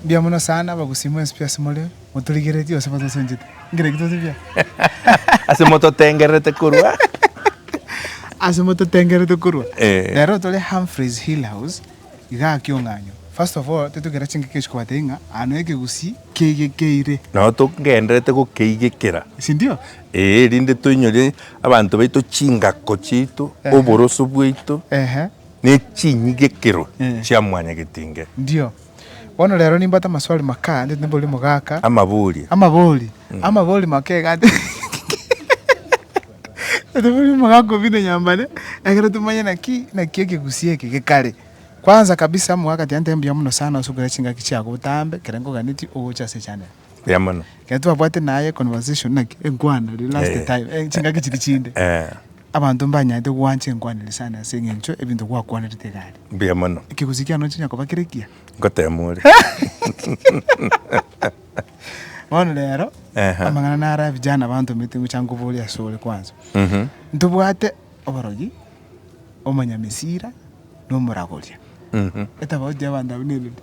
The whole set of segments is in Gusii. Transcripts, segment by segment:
Mbuya mono sana abagusi mwensibia ase more moturigeretie gose motosunchete. Ngerekio tosibia. Ase mototengererete korwa. Ase mototengererete korwa. Eh. Rero tore Humphreys Hill House iga aa kiong'anyo. First of all titogera chingaki ase kobatebia ng'a aa no ekegusi keigekeire. Nao togendererete gokeigekera. Sindio? Ee, erinde toinyore abanto baito chingako chiaito, Ehe. oboroso bwaito. Ehe. Ne chinyigekero chia mwanyagetinge. Ndio. Bono rero nimbate amaswali makaa ndete neborimo gaka. Amabori. Amabori. Amabori make iga ati ndete neborimo ga kobina nyambare ekero tomanye naki naki ekegusii eke gekare. Kwanza kabisa omogaka tiga nte mbuya mono sana osubere chingaki chiago botambe kere nkoganetie ogocha ase echaneli. Buya mono. Ekero twabwate naye conversation naki enkwana riria last Eh. time, eh, chingaki chiria chinde. Eh, Abanto mbanyarete gwancha enkwaneri sana ase eng'encho ebinto gwakwanerete iga aria. Buya mono. Ekegusii kiane onchinya koba kere ekiya. Ngotema ore. Bono rero, Ehe. amang'ana naro ya vijana bantomete ngocha nkoborie ase ore kwanza. Mhm. Ntobwate oborogi, omonyamesira, na omoragoria. Mhm. Etafauti y'abanto abwo nerende.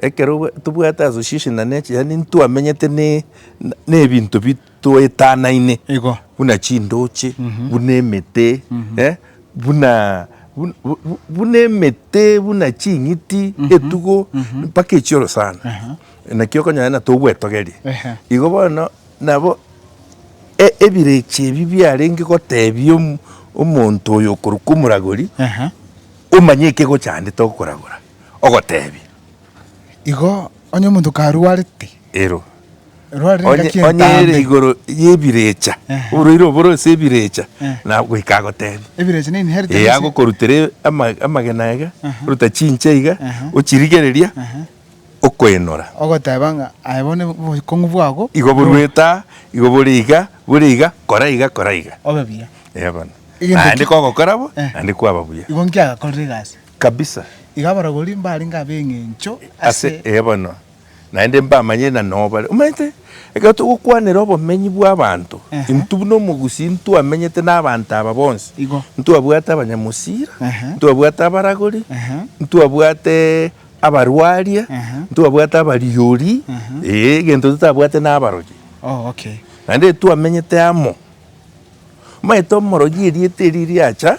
Ekero tobwate association na nature yaani ntwamenyete na ebinto bitoetanaine Igo. buna chindoche buna emete eh, buna bu- bu- bu- buna emete buna ching'iti etugo mpaka echioro sana naki okonyora na tobwetogerie Ehe. igo bono nabo e- ebirecha ebi biarenge gotebia omo- omonto oyo okorokwa omoragori Ehe. omanye ekegochandete okoragora ogoteebia, Igo onye omonto karwarete, Ero, erwarire onye engaki onye ere entambe, igoro y'ebirecha, Ehe. oboraire oboro ase ebirecha, Eh. na goika agoteebia. ebirecha na inheritance, Ee, agokorutera ama- amagena iga, Aha. oruta chinche iga, Aha. ochirigereria, Aha. okoenora. ogoteba ng'a aye bono obokong'u bwabo Igo boruete aa, igo bore iga, bore iga, kora iga, kora iga. obe buya. Eee bono. Egento Naende ki- kogokora bo, Eh. naende kwaba buya. Igo inki agakorire egasi? kabisa. Iga abarogori mbarenge ab'engencho ase. Ase ee bono naende mbamanyire na nobare. Omanyete, ekero togokwanera obomenyi bw'abanto, intwe buna omogusii ntwamenyete n'abanto aba bonsi. Igo. Ntwabwate abanyamosira, ntwabwate abaragori, ntwabwate abarwaria, ntwabwate abariori, ee, egento totabwate n'abarogi. Oh, okay. Naende twamenyete amo. Omanyete omorogi erieta erio riacha,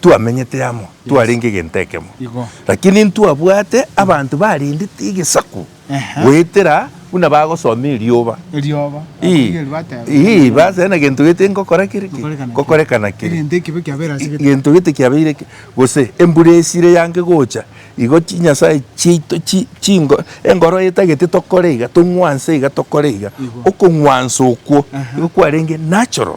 twamenyete amo, twarenge egento ekemo. Igo. Lakini ntwabwate abanto barendete egesaku Ehe. goetera buna bagosoma erioba. Erioba. Ii, Abatigari bateba. ii, base na gento gete ngokora kere ki? Gokorekana ki? Gokorekana kere. Egento ekibe kiabeire ase gete. gento gete kiabeire ki? gose embura esire yange gocha igo chinyasae chiaito chi- chingo engoro etagete tokore iga tong'wanse iga tokore iga Igo. okong'wansa okwo Aha. igo kwarenge natural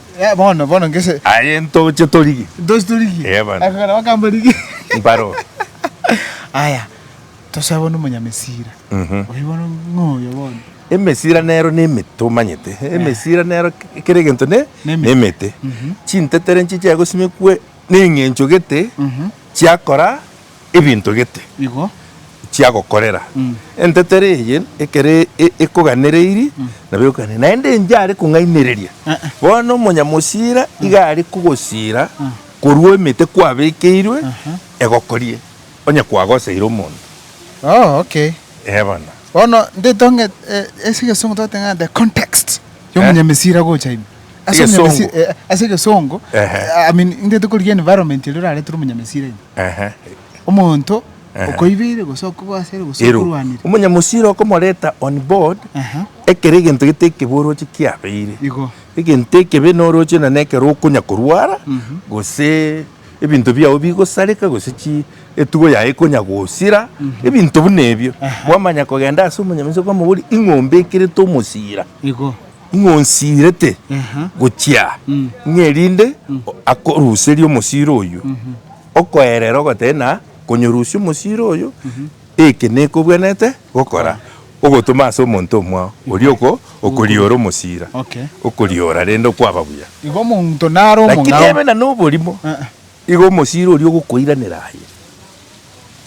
Eh, bono, bono ngese. Aye ntoche torigie. Ntoche torigie. Eh, bono. Akogera bakamba rigie. Mbaro. Aya, tosabe bono omonyamesira. Mhm. Oyo bono ng'oyo bono. Emesira nero ne emete omanyete emesira nero kera egento ne Ne emete. ne emete chintetere nchiche gosimekwe ne eng'encho gete chiakora ebinto gete Igo. chiagokorera. Mm. Entetero eye ekero e- ekoganereiri, nabo ekoganera. Naende enche are kong'ainereria. Eh. Bono omonyamosira iga are kogosira korwa emete kwabekeirwe egokorie, onye kwagoseire omonto. Oh, okay. Ee bono. Bono ndetong'e eh, ase egesongo twateba ng'a the context y'omonyamesira gocha ime. Ase Egesongo. Omunyamesiri- eh, ase egesongo Ehe. eh, I mean, intete korigia environment eria oraretire omonyamesiri aino Ehe. omonto okoibeire gose okogwasere gose Ero. okorwanire Omonyamosiri okomoreta on board Aha. ekero egento gete ekeboroche kiabeire. Igo. Egento ekebe noroche na nekero okonya korwara gose ebinto biao bigosareka gose chi etugo yaye ekonya gosira ebinto buna ebio. Aha. Kwamanya kogenda ase omonyamesiri okamobori ing'ombe ekerete omosira. igo Ng'a onsiirete gochia aa, ng'a erinde akoruserie omosiro oyio, okoerera ogoteba na konyorusia omosiro oyio, eke nekobwenerete gokora, ogotoma ase omonto omwao oria oko okoriora omosira, Okay. okoriora rende okwaba buya. Igo omonto nare Lakini omong'ao. ebe na noborimo, Eh. igo omosira oria ogokoiranera aye.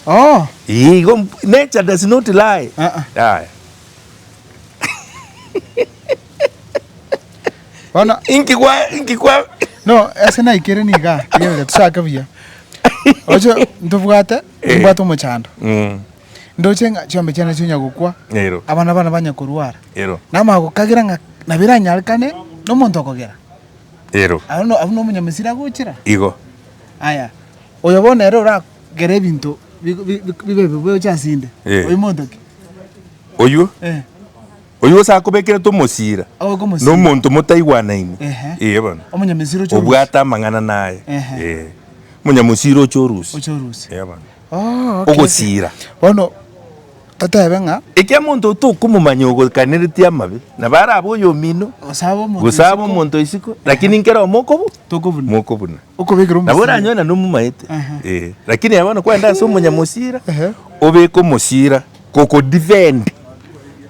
Oh. Ee, igo mb- nature does not lie. Ah, ah. Yaya. Bono Inki kwa inki kwa No, ase naikire niga, rigereria tochake buya. Oche ntobwate, Eh. nimbwate omochando. Mm. Ndoche ng'a chiombe chiane chinya gokwa, Ero. abana bane banya korwara. Ero. Namanya gokagera ng'a nabo eranyarekane nomonto okogera. Ero. Abwo no- abwo nomonyamisiri agochera. Igo. Aya, oyo bono ere ora Kera ebinto bi- bi- bi- bibe bibe gocha ase inde. Eh. Oyio monto ki? Oyio, Eh. oyio gose akobekerete omosira, Abe komosira. na omonto motaigwanaine. Ehe. Ee bono. Omonyamisiri oche orusi. Obwate amang'ana naye. Ehe. Ee. Omonyamosira oche orusi. Oche orusi. Ee bono. Oh, okay, okay. Ogosira. Bono Toteebe ng'a. Ekiagera omonto oo tokomomanya ogoikaneretie amabe, na bare abe oyomino, gose abe omonto o isiko, lakini nkera omo okobu, mokobuna. Okobekera Nabo omosira. oranyoe na nomomaete. Aha. Eh, lakini aye bono kwenda ase omonyamosira, Ehe. obeke omosira kokodefend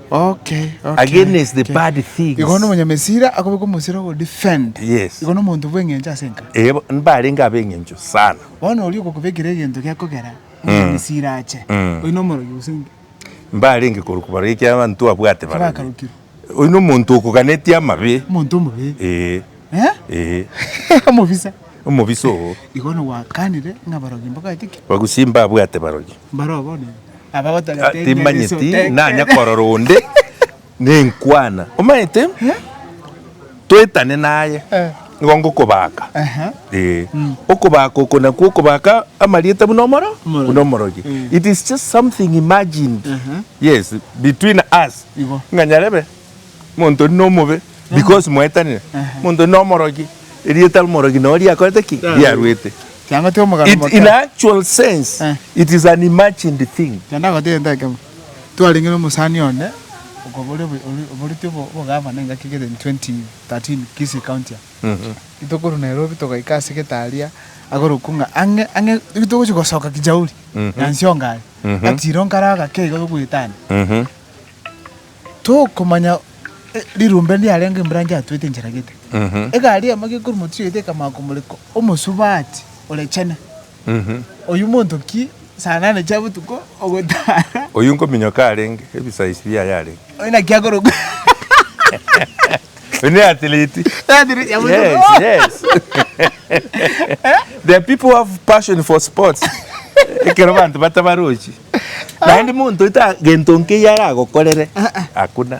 Okay, okay. against the okay. bad things. Igo bono omonyamesira akobeka omosira ogodefend. Yes. Igo nomonto bw'eng'encho ase enka. Eh, bo- mbarenge ab'eng'encho sana. Bono oria ogokobekera egento gekogera, onde Misiri ache, oyio nomorogi gose inki? Mbarenge korokwa barogi ekiagera abanto babwate barogi. Tibakarokirwe. Oyio nomonto okoganetie amabe. Omonto omobe. Ee. Eh? Ee. Omobisa. Omobisa oo. Igo nogwakanire ng'a abarogi mbabwate ki? Bagusie mbabwate barogi. Mbaroo bono aba gotagete. Timanyeti nanya korora onde. Nenkwana, omaete toetane naye, nigo ngokobaaka. Ee, okobaaka oko nakwo okobaaka amarieta buna omoro, buna omorogi. It is just something imagined, yes, between us, ng'a nyarebe omonto oria nomobe because mwaetanire, omonto oria nomorogi, erieta ri'omorogi nao riakorete ki? Riaruete. It, in actual sense, it is an imagined thing. Twarenge nomosani onde okobori oboreti obogavana engaki kere 2013 Kisii County aa. Ritokorwa Nairobi togaika ase getaria agorokwa ng'a ang'e ang'e ritogochia gosoka Kijauri Nyansionga aria gatiro nkare agake iga togoetania tokomanya rirumbe ndiarenge embranch yatuete enchera gete egari emo gekorwa motiyoete ekamaka omoreko omosubati ore chene. Oyio monto ki saa nane chia botuko ogotara? Oyio nkominyoka arenge ebisaisi biaye arenge. Oyio naki akorokwa Oyio ne athiliti. Athiliti ya botuko. Yes, yes. There are people who have passion for sports ekero banto batabarochi. Naende monto eta gento nkeiyo aragokorere, hakuna.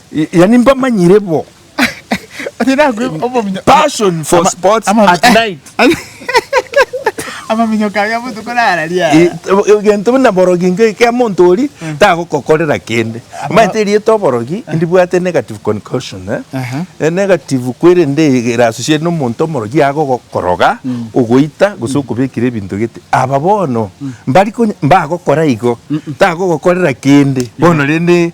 Yaani mbamanyire bo. Onye nakwe obominyo. Passion for sports at night. Amaminyo kaye amotuko nara ria. Egento buna borogi ingo ekea monto ori mm. tagokokorera kende. Omanyete rieto borogi eh. ndibwate negative concussion eh. eh negative kwerende erasusie no monto morogi yago gokoroga mm. ogoita gose mm. okobekira ebinto gete. Aba bono mbari mbagokora igo tagogokorera kende. Bono rende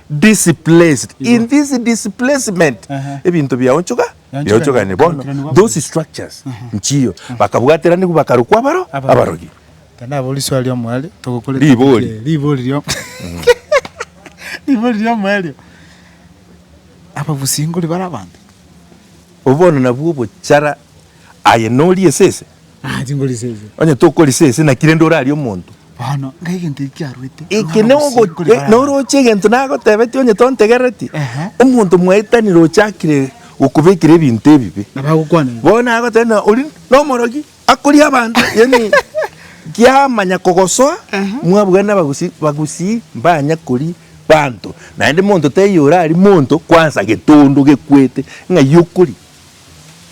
Displaced. In this displacement, ebinto biaonchoka, biaonchokanire bono, those structures, nchiyo, bakabwatera nigo bakarokwa abaro, abarogi. Tindaba riswali omoerio togokora etopic Ribori. eye. Ribori ria ribori ria omoerio. Abagusingori bare abanto. Obwo bono nabwo obochara aye norie esese. Ah, chingorisa ese. Onye tokorisa ese, naki rende orarie omonto? Bono, ng'ai gento eki kiaruete? Eke Omwana nogo- omosinge kore e- Baraaba. noroche egento nagotebetie onye tontegereti? Ehe. Omonto mwaetanire ochakire gokobekera ebinto ebibe. Nabo agokwana igo. Bono nagoteba ng'a ori nomorogi, akoria abanto, yaani kiamanya kogosoa, mwabugana nabagusi, bagusii mbanya koria banto. Naende monto taiyo oraria monto kwansa getondo gekwete ng'ai okoria.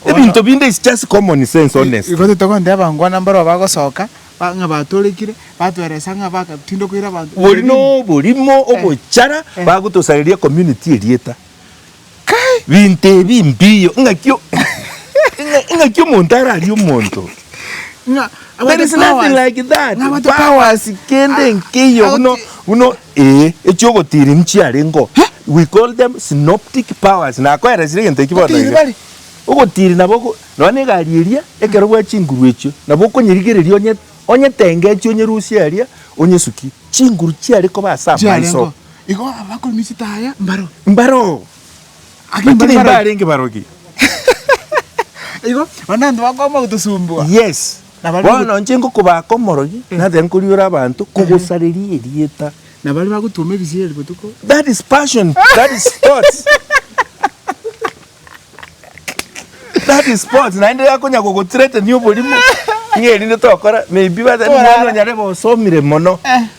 Ebinto binde is just common sense honestly. Igo togonteba ngwa nambaro abagosoka ba ng'a batorekire, batweresa ng'a bagatindwa koira abanto Bori ebibe binde. noborimo ogochara Eh. bagotosareria community erieta. Kai! Binto ebi mbiyo ng'aki o- ng'a- ng'aki omonto ararie omonto. Ng'a There is nothing like that. Ng'a abate powers. Powers kende nkeiyo buna buna Ee, echi'ogotiiri nchiarengeo. We call them synoptic powers. Nakoeresire egento ekio bono iga. Ogotiiri nabo oko, nonya na egari eria, ekero bwa chinguru echio, nabo okonyerigereria onye, onyetenge echio onyerusie aria, onyesukie. Chinguru chiare koba ase amaiso. Igo abakori misita aya mbaro. Mbaro. Lakini imbarenge barogi. Igo, onde onto bakoama gotosumbua. Yes. Bono inche ngokobaaka omorogi, na tari nkoriora abanto, kogosareria erieta. Na baria bagotuoma ebisieri botuko. That is passion, that is sports. That is sports, naende akonya kogothreatenia oborimo, ng'a erinde tokora, maybe bate, mwana onyare gosomire mono.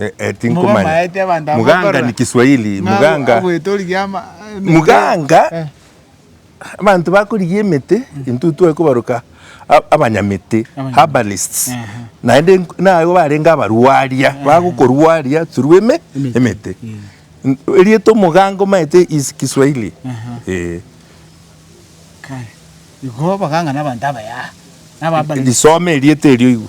Eh, eh, tinkomanya. Mobamaete abanto aba Muganga bakorora. ni Kiswahili. Ng'a Muganga. agwete origia ama- emete. Muganga. Eh. Abanto bakorigia emete intwe twekobaroka a- abanyamete, Abanyamete. herbalists. Ehe. Naende nk- nabo barenge abarwaria, bagokorwaria through eme- Emete. emete. Eh. N- Erieta omoganga omaete is Kiswahili. Aha. Eh. Kare. Igo abaganga na abanto abayaha. Naba Lisome erieta erio igo.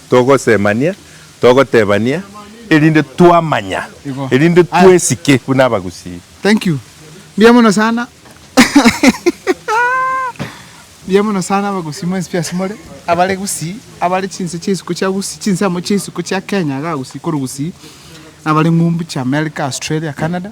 togosemania, togotebania, erinde twamanya, Igo. erinde Aya. twesike buna abagusii. Thank you. Mbuya mono sana. Mbuya mono sana abagusii mwensi pi ase more. Abare Gusii, abare chinse chia isiko chia Gusii, chinsemo chia isiko chia Kenya iga Gusii korwa Gusii. Abare ng'umbu chia America, Australia, Canada.